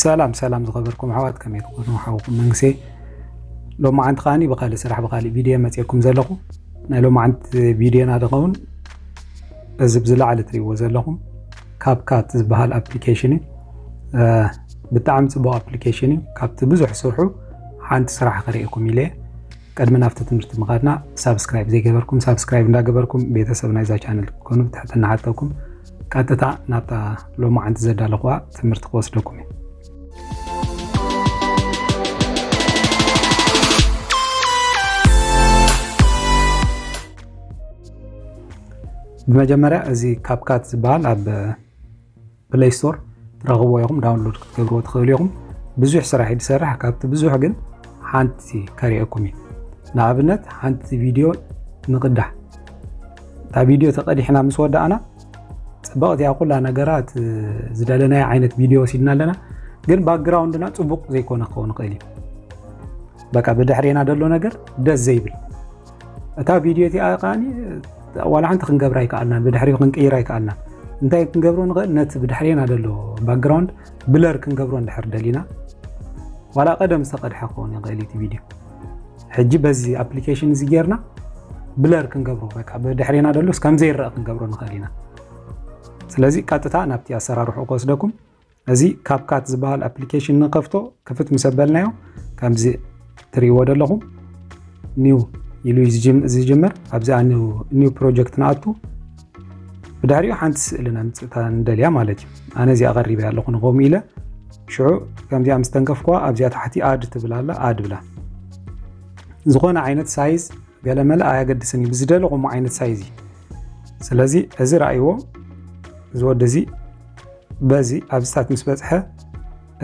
ሰላም ሰላም ዝኸበርኩም ኣሕዋት ከመይ ትኾኑ ሓውኩም መንግሴ ሎማዓንቲ ከዓኒ ብካልእ ስራሕ ብካልእ ቪድዮ መፅየኩም ዘለኹ ናይ ሎማዓንቲ ቪድዮና ዝኸውን እዚ ብዝለዓለ ትሪእዎ ዘለኹም ካብ ካት ዝበሃል ኣፕሊኬሽን እዩ ብጣዕሚ ፅቡቅ ኣፕሊኬሽን እዩ ካብቲ ብዙሕ ስርሑ ሓንቲ ስራሕ ክርእየኩም ኢለ ቅድሚ ናብቲ ትምህርቲ ምኻድና ሳብስክራይብ ዘይገበርኩም ሳብስክራይብ እንዳገበርኩም ቤተሰብ ናይዛ ቻነል ክትኮኑ ብትሕትና ሓተኩም ቀጥታ ናብታ ሎማዓንቲ ዘዳለኹዋ ትምህርቲ ክወስደኩም እዩ ብመጀመርያ እዚ ካፕካት ዝበሃል ኣብ ፕለይ ስቶር ትረኽብዎ ኢኹም ዳውንሎድ ክትገብርዎ ትኽእሉ ኢኹም ብዙሕ ስራሕ እዩ ዝሰርሕ ካብቲ ብዙሕ ግን ሓንቲ ከሪአኩም እዩ ንኣብነት ሓንቲ ቪድዮ ንቕዳሕ እታ ቪድዮ ተቐዲሕና ምስ ወዳእና ፅብቕቲ እያ ኩላ ነገራት ዝደለናዮ ዓይነት ቪድዮ ወሲድና ኣለና ግን ባክግራውንድና ፅቡቕ ዘይኮነ ክኸውን ይኽእል እዩ በቃ ብድሕሬና ዘሎ ነገር ደስ ዘይብል እታ ቪድዮ እቲኣ ከኣ ዋላ ሓንቲ ክንገብር ኣይከኣልናን ብድሕሪኡ ክንቅይር ኣይከኣልናን እንታይ ክንገብሮ ንኽእል ነቲ ብድሕሬና ዘሎ ባክግራውንድ ብለር ክንገብሮ እንድሕር ደሊና ዋላ ቀደም ዝተቐድሐ ክኸውን ይኽእል እቲ ቪድዮ ሕጂ በዚ ኣፕሊኬሽን እዚ ጌርና ብለር ክንገብሮ በቃ ብድሕሬና ደሎ እስካም ዘይረአ ክንገብሮ ንኽእል ኢና ስለዚ ቀጥታ ናብቲ ኣሰራርሑ ክወስደኩም እዚ ካፕካት ዝበሃል ኣፕሊኬሽን ንከፍቶ ክፍት ምስ ኣበልናዮ ከምዚ ትሪእዎ ዘለኹም ኒው ኢሉ ዝጅምር ኣብዚኣ ኒው ፕሮጀክት ንኣቱ ብድሕሪኡ ሓንቲ ስእሊ ነምፅእታ ንደልያ ማለት እዩ ኣነ እዚኣ ቀሪበ ኣለኹ ንኸም ኢለ ሽዑ ከምዚኣ ምስ ተንከፍኳ ኣብዚኣ ታሕቲ ኣድ ትብል ኣላ ኣድ ብላ ዝኾነ ዓይነት ሳይዝ ገለመለ ኣየገድስን እዩ ብዝደለኹሞ ዓይነት ሳይዝ እዩ ስለዚ እዚ ረእይዎ እዚ ወዲ እዚ በዚ ኣብዚ ታት ምስ በጽሐ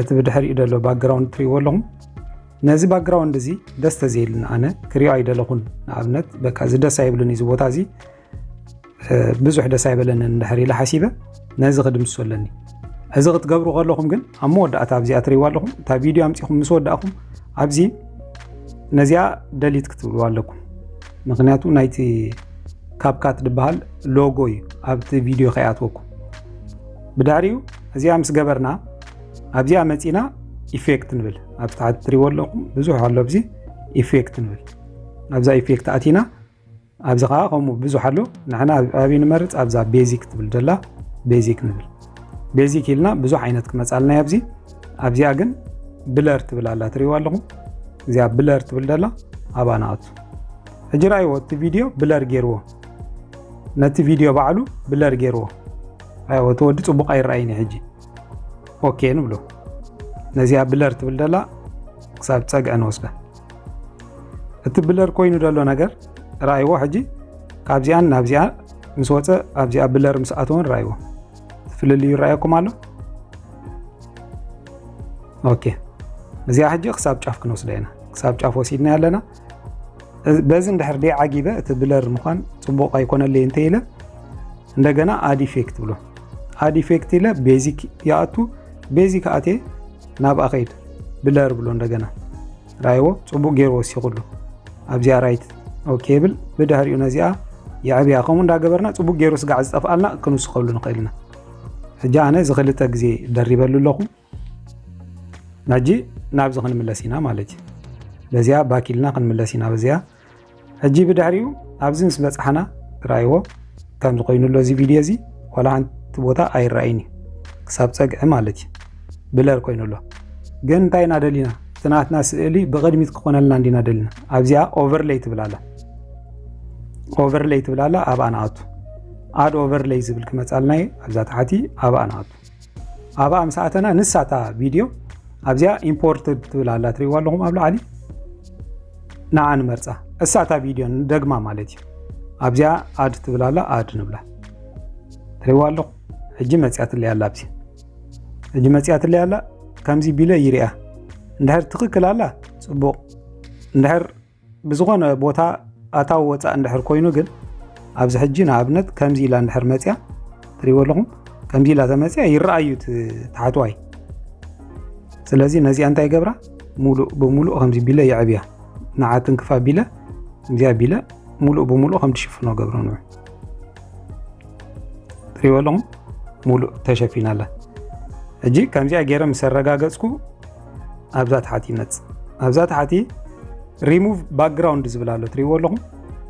እቲ ብድሕሪኡ ዘሎ ባክግራውንድ ትሪእዎ ኣለኹም ነዚ ባክግራውንድ እዚ ደስ ተዘይሉኒ ኣነ ክሪኦ ኣይደለኹን ንኣብነት በቃ እዚ ደስ ኣይብሉን እዚ ቦታ እዚ ብዙሕ ደስ ኣይበለንን እንድሕር ኢለ ሓሲበ ነዚ ክድምሱ ኣለኒ እዚ ክትገብሩ ከለኹም ግን ኣብ መወዳእታ ኣብዚኣ ትሪእዋ ኣለኹም እታ ቪድዮ ኣምፂኹም ምስ ወዳእኹም ኣብዚ ነዚኣ ደሊት ክትብልዋ ኣለኩም ምክንያቱ ናይቲ ካብካት ዝበሃል ሎጎ እዩ ኣብቲ ቪድዮ ከይኣትወኩም ብድሕሪኡ እዚኣ ምስ ገበርና ኣብዚኣ መፂና ኢፌክት ንብል ኣብ ታሕቲ ትሪዎ ኣለኹም ብዙሕ ኣሎ ኣብዚ ኢፌክት ንብል ኣብዛ ኢፌክት ኣቲና ኣብዚ ከዓ ከምኡ ብዙሕ ኣሎ ንሕና ኣብይ ንመርፅ ኣብዛ ቤዚክ ትብል ደላ ቤዚክ ንብል ቤዚክ ኢልና ብዙሕ ዓይነት ክመፃልና ኣብዚ ኣብዚኣ ግን ብለር ትብል ኣላ ትሪዎ ኣለኹም እዚኣ ብለር ትብል ደላ ኣባ ንኣቱ ሕጂ ራይዎ እቲ ቪድዮ ብለር ገይርዎ ነቲ ቪድዮ ባዕሉ ብለር ገይርዎ ኣይወ እቲ ወዲ ፅቡቕ ኣይረኣይን እዩ ሕጂ ኦኬ ንብሎ ነዚኣ ብለር ትብል ደላ ክሳብ ፀግዐ ንወስዳ እቲ ብለር ኮይኑ ደሎ ነገር ረኣይዎ ሕጂ ካብዚኣን ናብዚኣ ምስ ወፀ ኣብዚኣ ብለር ምስ ኣተወን ረኣይዎ ፍልልዩ ይረኣየኩም ኣሎ ኦኬ እዚኣ ሕጂ ክሳብ ጫፍ ክንወስዳ ኢና ክሳብ ጫፍ ወሲድና ኣለና በዚ እንድሕር ደይ ዓጊበ እቲ ብለር ምዃን ፅቡቕ ኣይኮነለይ እንተ ኢለ እንደገና ኣድ ኢፌክት ብሎ ኣድ ኢፌክት ኢለ ቤዚክ ይኣቱ ቤዚክ ኣቴ ናብ ኣኸይድ ብለር ብሎ እንደገና ራይዎ ፅቡቅ ገይሩ ወሲኹሉ ኣብዚኣ ራይት ኦኬ ብል ብድሕሪኡ ነዚኣ የዕብያ ከምኡ እንዳገበርና ፅቡቅ ገይሩ ስጋዕ ዝጠፍኣልና ክንውስኸሉ ንኽእል ኢና ሕጂ ኣነ እዚ ክልተ ግዜ ደሪበሉ ኣለኹ ናጂ ናብዚ ክንምለስ ኢና ማለት እዩ በዚኣ ባኪልና ክንምለስ ኢና በዚኣ ሕጂ ብድሕሪኡ ኣብዚ ምስ በፅሓና ራይዎ ከምዚ ኮይኑ ኣሎ እዚ ቪድዮ እዚ ዋላ ሓንቲ ቦታ ኣይረኣይን እዩ ክሳብ ፀግዒ ማለት እዩ ብለር ኮይኑ ኣሎ ግን እንታይ ኢና ደሊና እቲ ናትና ስእሊ ብቅድሚት ክኾነልና እንዲና ደሊና ኣብዚኣ ኦቨርለይ ትብላላ ኦቨርለይ ትብላላ ኣብኣ ንኣቱ ኣድ ኦቨርለይ ዝብል ክመፃልና እዩ ኣብዛ ተሓቲ ኣብኣ ንኣቱ ኣብኣ ምስ ኣተና ንሳ እታ ቪድዮ ኣብዚኣ ኢምፖርት ትብል ኣላ ትሪእዋ ኣለኹም ኣብ ላዕሊ ንዓ ንመርፃ እሳ እታ ቪድዮ ንደግማ ማለት እዩ ኣብዚኣ ኣድ ትብል ኣላ ኣድ ንብላ ትሪእዋ ኣለኹ ሕጂ መፅያትለይ ኣላ ኣብዚ ሕጂ መፅያትለይ ኣላ ከምዚ ቢለ ይርያ እንድሕር ትኽክል ኣላ ፅቡቕ እንድሕር ብዝኾነ ቦታ ኣታዊ ወፃእ እንድሕር ኮይኑ ግን ኣብዚ ሕጂ ንኣብነት ከምዚ ኢላ እንድሕር መፅያ ትሪእዎ ኣለኹም ከምዚ ኢላ ተመፅያ ይረኣዩ ተሓትዋይ ስለዚ ነዚኣ እንታይ ገብራ ሙሉእ ብሙሉእ ከምዚ ቢለ የዕብያ ንዓትን ክፋ ቢለ እዚኣ ቢለ ሙሉእ ብሙሉእ ከም ትሽፍኖ ገብረ ንዑ ትሪእዎ ኣለኹም ሙሉእ ተሸፊና ኣላ ሕጂ ከምዚኣ ገይረ ምስ ኣረጋገፅኩ ኣብዛ ታሕቲ ይመፅእ ኣብዛ ታሕቲ ሪሙቭ ባክግራውንድ ዝብል ኣሎ ትሪእዎ ኣለኹም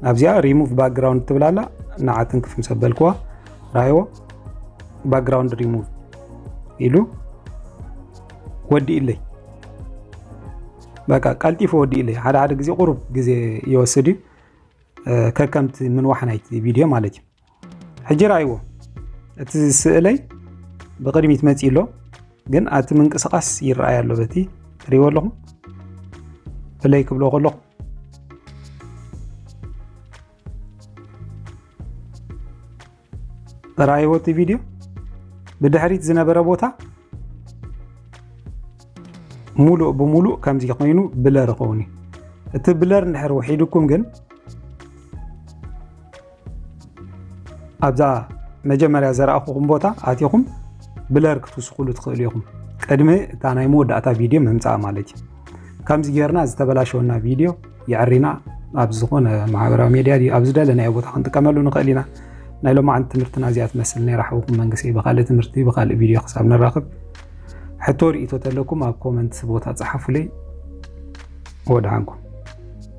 ኣብዚኣ ሪሙቭ ባክግራውንድ ትብላላ ንዓትን ክፍ ምስ ኣበልክዋ ራእይዎ ባክግራውንድ ሪሙቭ ኢሉ ወዲእለይ በቃ ቀልጢፉ ወዲእለይ ሓደ ሓደ ግዜ ቁሩብ ግዜ ይወስድ እዩ ከከምቲ ምንዋሕ ናይቲ ቪድዮ ማለት እዩ ሕጂ ራይዎ እቲ ስእለይ ብቅድሚት መፂ ኣሎ ግን ኣቲ ምንቅስቃስ ይረኣይ ኣሎ በቲ ትሪዎ ኣለኹም ፍለይ ክብሎ ከለኹ ራይዎ እቲ ቪድዮ ብድሕሪት ዝነበረ ቦታ ሙሉእ ብሙሉእ ከምዚ ኮይኑ ብለር ይኸውን እዩ እቲ ብለር እንድሕር ውሒድኩም ግን ኣብዛ መጀመርያ ዘረኣኹኹም ቦታ ኣቲኹም ብለር ክትውስኹሉ ትኽእሉ ኢኹም ቅድሚ እታ ናይ መወዳእታ ቪድዮ ምምፃእ ማለት እዩ ከምዚ ጌርና ዝተበላሸወና ቪድዮ የዕሪና ኣብ ዝኾነ ማሕበራዊ ሜድያ ኣብ ዝደለናዮ ቦታ ክንጥቀመሉ ንኽእል ኢና ናይ ሎማዓንቲ ትምህርትና እዚኣ ትመስል ነራ ሓውኩም መንግስቲ ብካልእ ትምህርቲ ብካልእ ቪድዮ ክሳብ ንራኽብ ሕቶ ርእቶ ተለኩም ኣብ ኮመንት ቦታ ፀሓፉለይ ወድሓንኩም